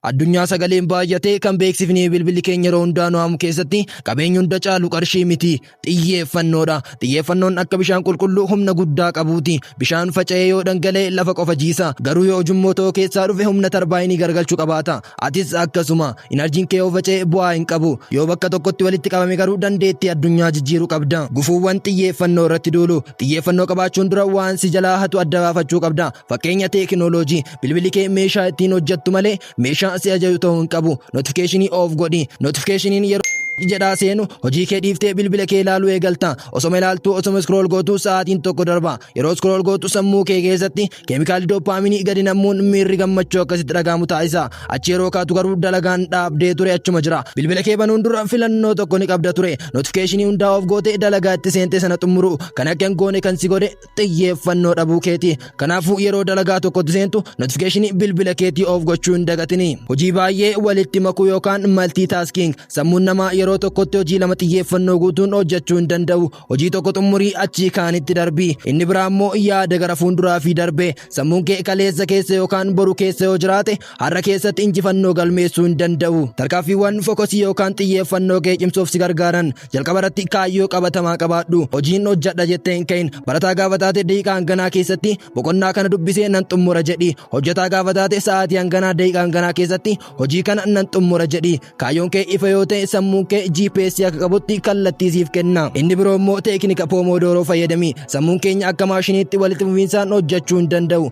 Addunyaa sagaleen baay'atee kan beeksifni bilbilli keenya yeroo hundaa nu haamu keessatti qabeenyi hunda caalu qarshii miti. Xiyyeeffannoodha. Xiyyeeffannoon akka bishaan qulqulluu humna guddaa qabuuti. Bishaan faca'ee yoo dhangala'e lafa qofa jiisa. Garuu yoo ujummoo ta'uu keessaa dhufe humna tarbaayinii gargalchu qabaata. Atis akkasuma. Inarjiin kee yoo faca'e bu'aa hin qabu. Yoo bakka tokkotti walitti qabame garuu dandeettii addunyaa jijjiiru qabda. Gufuuwwan xiyyeeffannoo irratti duulu. Xiyyeeffannoo qabaachuun dura waan si jalaa hatu adda baafachuu qabda. Fakkeenya teekinooloojii. Bilbilli kee meeshaa ittiin hojjettu malee meeshaa si ajaju ta'uu hin qabu. Notifikeeshinii oof godhi. Notifikeeshiniin yeroo jedhaa seenu hojii kee dhiiftee bilbila kee ilaaluu eegalta. Osoma ilaaltuu osoma scroll gootu sa'aatiin tokko darba. Yeroo scroll gootu sammuu kee keessatti keemikaalli dooppaaminii gadi nammuun miirri gammachuu akkasitti dhaga'amu taasisa. Achi yeroo kaatu garuu dalagaan dhaabdee ture achuma jira. Bilbila kee banuun dura filannoo tokko ni qabda ture. Notifikeeshinii hundaa oof gootee dalagaa itti seentee sana xumuruu kan akka hin goone kan si godhe xiyyeeffannoo dhabuu keeti kanaafuu yeroo dalagaa tokkotti seentu notifikeeshinii bilbila keetii of gochuu hin dagatini hojii baay'ee walitti makuu yookaan maltii taaskiing sammuun namaa yeroo tokkotti hojii lama xiyyeeffannoo guutuun hojjechuu hin danda'u hojii tokko xumurii achii kaanitti darbii inni biraa immoo yaada gara fuunduraa fi darbee sammuun kee kaleessa keessa yookaan boru keessa yoo jiraate Har'a keessatti injifannoo galmeessuu hin danda'u. Tarkaanfiiwwan fokosii yookaan xiyyeeffannoo kee cimsuuf si gargaaran jalqaba irratti kaayyoo qabatamaa qabaadhu. Hojiin hojjadha jettee hin ka'in. Barataa gaafa taate daqiiqaa hanganaa keessatti boqonnaa kana dubbisee nan xumura jedhi. Hojjataa gaafa taate sa'aatii hanganaa daqiiqaa hanganaa keessatti hojii kana nan xumura jedhi. Kaayyoon kee ifa yoo ta'e sammuun kee GPS akka qabutti kallattii siif kenna. Inni biroo immoo teeknika Pomodoro fayyadami. Sammuun keenya akka maashiniitti walitti fufiinsaan hojjachuu hin danda'u.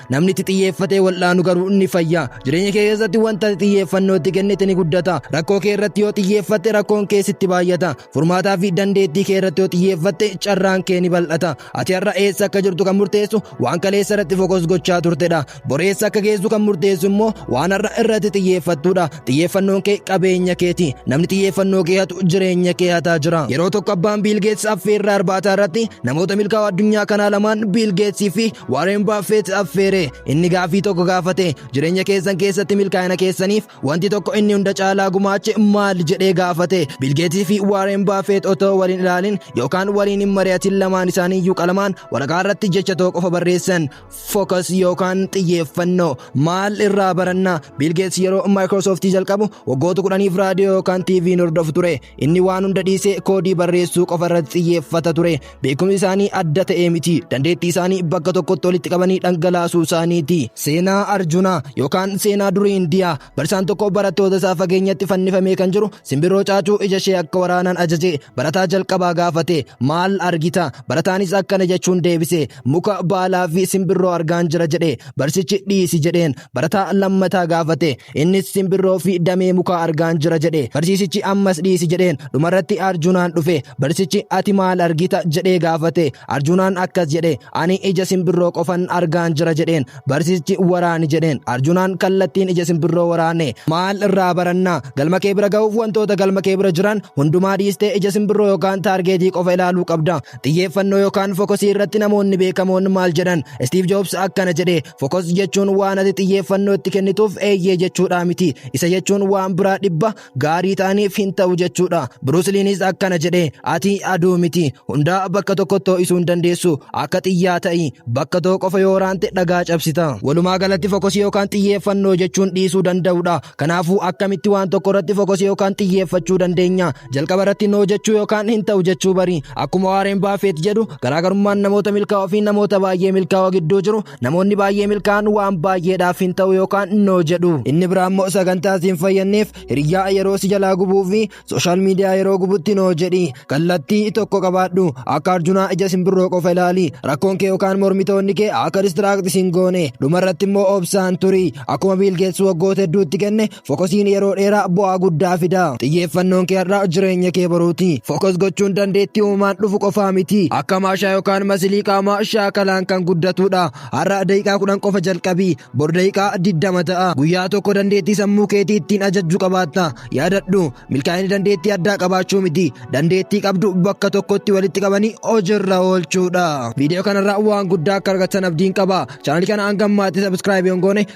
Namni itti xiyyeeffatee wal'aanu garuu ni fayya. Jireenya kee keessatti wanta ati xiyyeeffannoo itti kennite ni guddata. Rakkoo kee irratti yoo xiyyeeffatte rakkoon kee sitti baay'ata. Furmaataa fi dandeettii kee irratti yoo xiyyeeffatte carraan kee ni bal'ata. Ati har'a eessa akka jirtu kan murteessu waan kaleessa irratti fokus gochaa turtedha. Bor eessa akka geessu kan murteessu immoo waan har'a irratti xiyyeeffattudha. Xiyyeeffannoon kee qabeenya keeti. Namni xiyyeeffannoo kee hatu jireenya kee hataa jira. Yeroo tokko abbaan Biil Geets affeerraa irbaataa irratti namoota milkaa'oo addunyaa kanaa lamaan Biil Geetsii fi Waareen Baafeet affeere. Inni gaafii tokko gaafate. Jireenya keessan keessatti milkaa'ina keessaniif wanti tokko inni hunda caalaa gumaache maal jedhee gaafate. Biil Geetsii fi Waareen Baafeet otoo waliin ilaalin yookaan waliin hin mari'atin lamaan isaanii iyyuu qalamaan waraqaa irratti jecha tokko qofa barreessan. Focus yookaan xiyyeeffannoo maal irraa baranna Biil Geets yeroo Microsoft jalqabu waggoota kudhaniif raadiyoo yookaan TV hordofu ture inni waan hunda dhiisee koodii barreessuu qofa irratti xiyyeeffata ture beekumsi isaanii adda ta'ee miti dandeettii isaanii bakka tokkotti walitti qabanii dhangalaasuu isaaniiti seenaa Arjunaa yookaan seenaa durii Indiyaa barsiisaan tokko barattoota isaa fageenyatti fannifamee kan jiru Simbirroo caacuu ija ishee akka waraanaan ajaje barataa jalqabaa gaafate maal argita barataanis akkana jechuun deebise muka baalaa fi simbirroo argaan jira jedhe barsichi dhiisi jedheen barataa lammataa gaafate innis simbirroo fi damee mukaa argaan jira jedhe barsiisichi ammas dhiisi jedheen dhumarratti arjunaan dhufe barsichi ati maal argita jedhee gaafate arjunaan akkas jedhe ani ija simbirroo qofan argaan jira jedheen Barsiisichi waraani jedheen. Arjunaan kallattiin ija simbirroo waraane. Maal irraa baranna? Galma kee bira ga'uuf wantoota galma kee bira jiran hundumaa dhiistee ija simbirroo yookaan taargeetii qofa ilaaluu qabda. Xiyyeeffannoo yookaan fokosii irratti namoonni beekamoon maal jedhan? Istiiv Joobs akkana jedhe, fokos jechuun waan ati xiyyeeffannoo itti kennituuf eeyyee jechuudhaa miti. Isa jechuun waan biraa dhibba gaarii ta'aniif hin ta'u jechuudha. Birusliinis akkana jedhe ati aduu miti hundaa bakka tokkotti ho'isuu hin dandeessu akka xiyyaa ta'i bakka tokko qofa yoo waraante dhagaa cabsita. Walumaa galatti fokosii yookaan xiyyeeffannoo jechuun dhiisuu danda'udha. Kanaafuu akkamitti waan tokko irratti fokosii yookaan xiyyeeffachuu dandeenya. Jalqaba irratti noo jechuu yookaan hin ta'u jechuu bari. Akkuma Waareen Baafeet jedhu garaagarummaan namoota milkaa'oo fi namoota baay'ee milkaa'oo gidduu jiru Namoonni baay'ee milkaa'an waan baay'eedhaaf hin ta'u yookaan noo jedhu. Inni biraa immoo sagantaa si hin fayyadneef hiriyyaa yeroo si jalaa gubuu fi sooshaal miidiyaa yeroo gubutti noo jedhi. Kallattii tokko qabaadhu. Akka arjunaa ija simbirroo qofa ilaali. Rakkoon kee yookaan mormitoonni kee akka distiraakti sin goone. Dhumarratti immoo obsaan turi. Akkuma biilgeessu waggoota hedduutti kenne Fokosiin yeroo dheeraa bu'aa guddaa fida. Xiyyeeffannoon kee har'a jireenya kee boruuti. Fokos gochuun dandeettii uumaan dhufu qofaa miti. Akka maashaa yookaan masilii qaamaa shaakalaan kan guddatudha. Har'a daqiiqaa kudhan qofa jalqabi. Bor daqiiqaa digdama ta'a. Guyyaa tokko dandeettii sammuu keetii ittiin ajajju qabaatta. Yaadadhu, milkaa'inni dandeettii addaa qabaachuu miti. Dandeettii qabdu bakka tokkotti walitti qabanii hojiirra oolchuudha. Viidiyoo kanarraa waan guddaa akka argattan abdiin qaba. Chaanalii kana hanga ammaatti sabiskiraayib hin goone